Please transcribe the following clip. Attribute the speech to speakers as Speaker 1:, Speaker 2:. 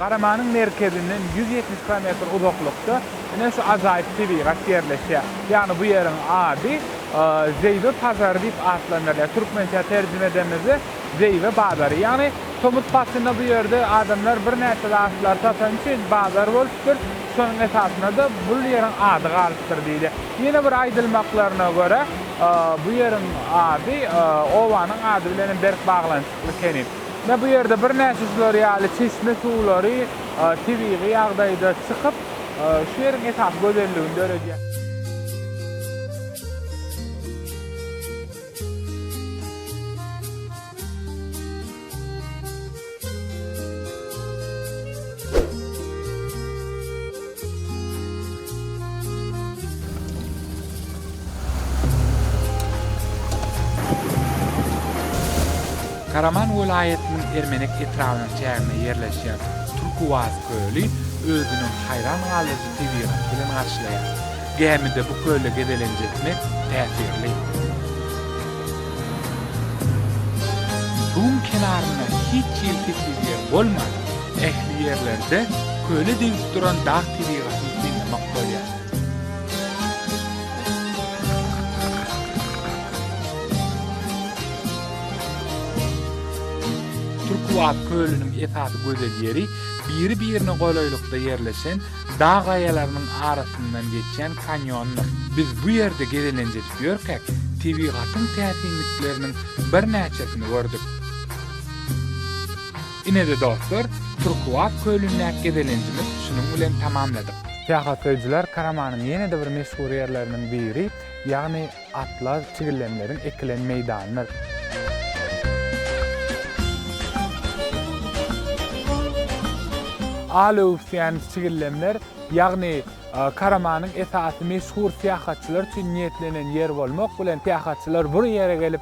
Speaker 1: Garamanyň merkezinden ýüz ýetmiş kilometr uzaklykda ine şu ajaýyp tebigat ýerleşýär. Ýagny bu ýeriň ady Zeýwe pazary diýip atlandyrylýar. Türkmençä terjime edemizde Zeýwe bazary. Ýagny tomus paslynda bu ýerde adamlar birnäçe zatlary satan üçin bazar bolupdyr. Şonuň esasynda-da bu ýeriň ady galypdyr diýdi. Ýene bir aýdylmaklaryna görä, bu ýeriň ady obanyň ady bilen hem berk baglanyşykly ekeni. Ine, bu ýerde birnäçe şular ýaly çeşme suwlary tebigy ýagdaýda çykyp, şu ýeriň esasy gözelligini döredýär. Karaman welaýatynyň Ermenek etrabynyň çäginde ýerleşýän Türkuwaz köli özüniň haýran galyjy tebigaty bilen garşylaýar. Gämide bu kölde gezelenç etmek täsirli. Suwuň kenarynda hiç hili tekiz ýer bolman, ähli ýerlerde köle degip duran dag tebigatyny synlamak bolýar. Türküwagt kölüniň esasy gözel ýeri biri-birine golaýlykda ýerleşen Dag gaýalarynyň arasyndan geçýän kanýondyr. Biz bu ýerde gezelenç edip ýörkäk, tebigatyň täsinlikleriniň birnäçesini gördük. Ine-de dostlar, Turkuaz kölündäki gezelenjimiz şunuň bilen tamamladyk. Syýahatlaýjylar Karamanyň ýene-de bir meşhur ýerleriniň biri, ýagny Atlar tigilenleriň ekilen meýdanydyr. Al öwüsýän tigilenler, ýagny Karamanyň esasy meşhur syýahatçylar üçin niýetlenen ýer bolmak bilen, syýahatçylar bur ýere gelip,